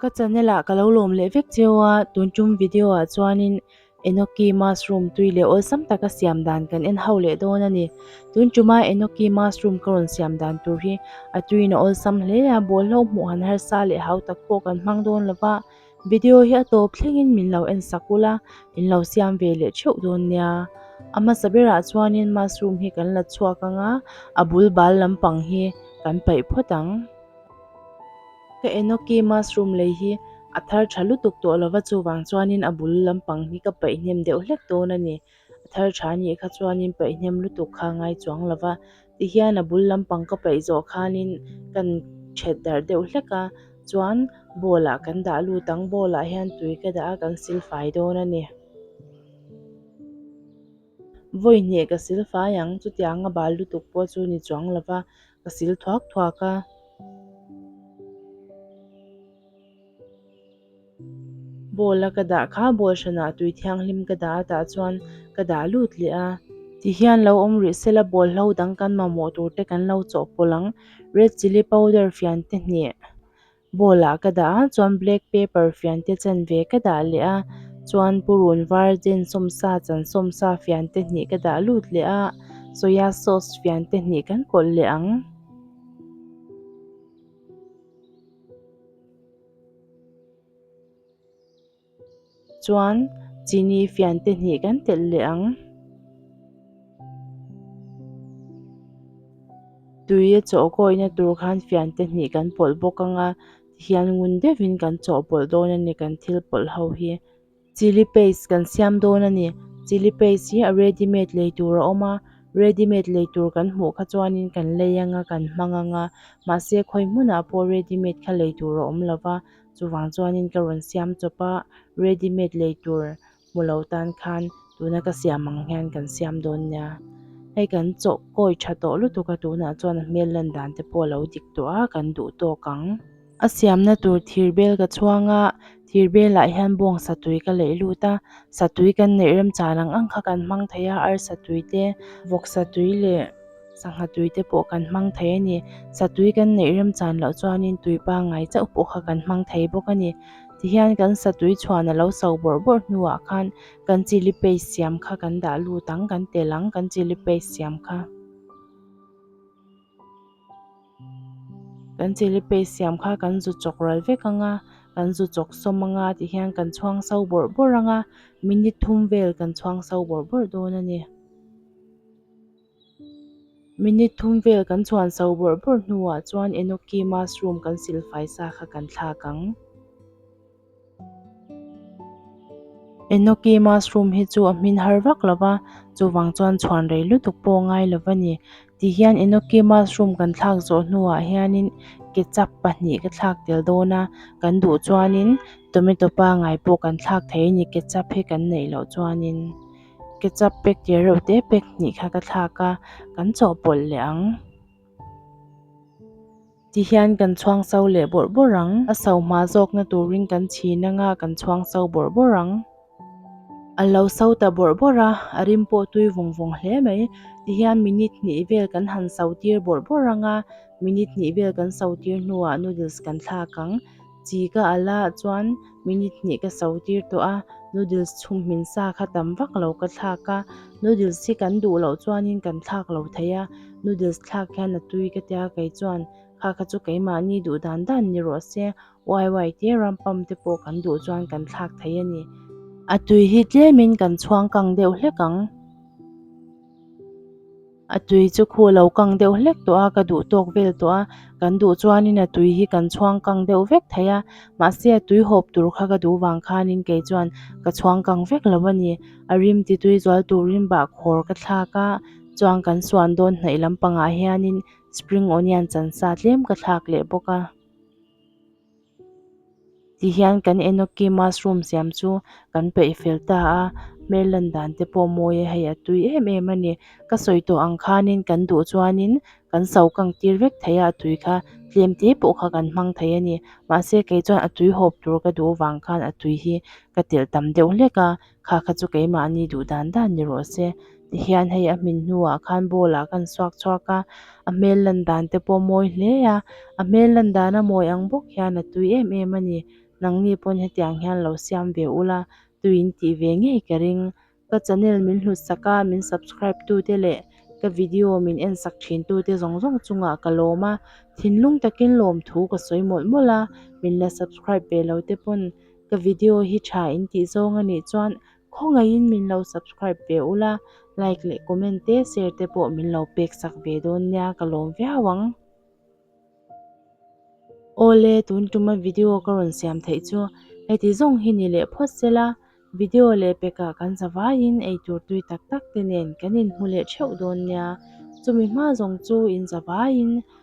Ka channel ah ka lo lawm leh vek cheu a, tun tum video ah chuanin Enoki mushroom tui leh awlsam taka siam dan kan en ho leh dawn a ni. Tun tuma Enoki mushroom ka rawn siam dan tur hi a tuiin a awlsam hle a, bawlhhlawh hmuh han harsa leh hau tak pawh kan hmang dawn lo va. Video hi a tawp thlengin min lo en sak ula in lo siam ve leh theuh dawn nia a hmasa berah chuanin mushroom hi kan la chhuak anga a bul bal lampang hi kan paih phawt ang ka enoki mushroom lei hi a thar tha lutuk tawh lova chuvang chuanin a bul lampang hi ka paihnem deuh hlek dawn a ni. A thar tha anih kha chuanin paihnem lutuk kha a ngai chuang lo va, tihian a bul lampang ka paih zawh khanin ka in ṭhet darh deuh hlek a, chuan bowl ah kan dah lut ang, bowl ah hian tui ka dah a kan sil fai dawn a ni. Vawi hneh ka sil fai ang, chutiang a bal lutuk pawh chu ni chuang lo va, ka sil thuak thuak a. Ball a ka dah kha ball hranah tui thianghlim ka dah atah chuan ka dah lut leh a. Tihian lo awm rih se la ball hlo dang kan mamawh tur te kan lo chawh pawlh ang red chilli powder fian te hneh ball ah ka dah a chuan black pepper fian te chen ve ka dah leh a chuan purun var chen sawmsa chan sawmsa fian te hneh ka dah lut leh a soya sauce fian te hneh kan kawlh leh ang. Chuan chini fian te hnih kan telh leh ang. Tui a chawh gawina tur khan fian te hnih kan pawlh bawk anga tihian ngun deuhin kan chawhpawlh dawn a ni kan thil pawlh ho hi. Chilli paste kan siam dawn a ni chilli paste hi a ready made lei tur a awm a ready made lei tur kan hmuh kha chuanin kan lei ang a kan hmang ang a mahse khawi hmunah pawh ready made kha lei tur a awm lo va chuvang chuanin ka rawn siam chawp a ready made lei tur hmu lo tan khan tuna ka siam ang hian kan siam dawn nia hei kan chaw kawi tha tawh lutuk a tunah chuan a hmel lan dan te pawh a lo dik tawh a kan duh tawk ang. A siamna tur thir bel ka chhuang a, thir belah hian bawng satui ka laih lut a, satui kan neih rem chan ang ang kha kan hmang thei a, arsa tui te, vawk satui leh sangha tui te pawh kan hmang thei a ni. Satui kan neih rem chan loh chuanin tui pangngai chauh pawh kha kan hmang thei bawk a ni. Tihian kan satui chhuan a lo so bawrh bawrh hnuah khan kan chilli paste siam kha kan dah lut ang, kan tel ang kan chilli paste siam kha. Kan che le pei siam kha kan zu chawk ral vek ang a, kan zu chawk sawm ang a tih hian kan chhuang sau bawrh bawrh ang a, minute thum vel kan chhuang sau bawrh bawrh dawn a ni. Minute thum vel kan chhuan sau bawrh bawrh hnuah chuan Enoki mushroom kan silfai sa kha kan thlak ang. Enoki mushroom hi chu a hmin har vak lo va, chuvang chuan chhuan rei lutuk pawh a ngai lo va ni. Ti hian enoki mushroom kan thlak zawh hnuah hianin ketchup pahnih ka thlak tel dawn a, kan duh chuanin tomato pangngai pawh kan thlak thei a ni ketchup hi kan neih loh chuanin. Ketchup packet reuhte pack hnih kha ka thlak a, kan chawhpawlh leh ang. Ti hian kan chhuangso leh bawrh bawrh ang. A sohma zawkna turin kan chhin anga kan chhuangso bawrh bawrh ang. A lo so ta bawrh bawrh a, a rim pawh tui vawng vawng hle mai. Ti hian minute hnih vel kan han so tir bawrh bawrh anga minute hnih vel kan so tir hnuah noodles kan thlak ang. Chi ka a la chuan minute hnih ka so tir tawh a, noodles chhum hmin sa kha tam vak lo ka thlak a, noodles hi kan duh loh chuanin kan thlak lo thei a, noodles thlak hian a tui ka tia kei chuan kha kha chu keimahni duh dan dan ni rawh se uai uai te ram pump te pawh kan duh chuan kan thlak thei a ni. A tui hi tlemin kan chhuang kang deuh hlek ang. A tui chu khu lo kang deuh hlek tawh a ka duh tawk vel tawh a, kan duh chuanin a tui hi kan chhuang kang deuh vek thei a, mahse a tui hawp tur kha ka duh vang khanin kei chuan ka chhuang kang vek lo a ni. A rim ti tui zual turin bah khawr ka thlak a, chuan kan suan dawn hnaih lampangah hianin spring onion chansa tlem ka thlak leh bawk a. Ti hian kan enoki mushroom siam chu kan peih fel ta a hmel lan dan te pawh mawi a hei a tui em em a ni ka sawi tawh ang khanin kan duh chuanin kan so kang tir vek thei a a tui kha tlem te pawh kha kan hmang thei a ni mahse kei chuan a tui hawp tur ka duh avang khan a tui hi ka telh tam deuh hlek a. kha kha chu keimahni duh dan dan ni rawh se tihian hei a hmin hnuah khan ball ah khan chhuak chhuak a a hmel lan dan te pawh mawi hle a a hmel lan dan a mawi ang bawk hian a tui em em a ni nangni pawn hetiang hian lo siam ve ula tuiin tih ve ngei ka ring ka channel min hlut sak a min subscribe tu te leh ka video min en sak thin tu te zawng zawng chungah ka lawm a thinlung takin lawmthu ka sawi mawlh mawlh a min la subscribe ve lo te pawn-- Ka video hi tha in tih zawng a nih chuan khawngaih in min lo subscribe ve u la, like leh comment te share te pawh min lo pek sak ve dawn nia ka lawm viau ang. Awle tun tuma video ka rawn siam theih chu heti zawng hi ni leh phawt se la, video leh pekah kan zavai in ei tur tui tak tak te nen kan in hmu leh theuh dawn nia, chumi hma zawng chu in zavai in.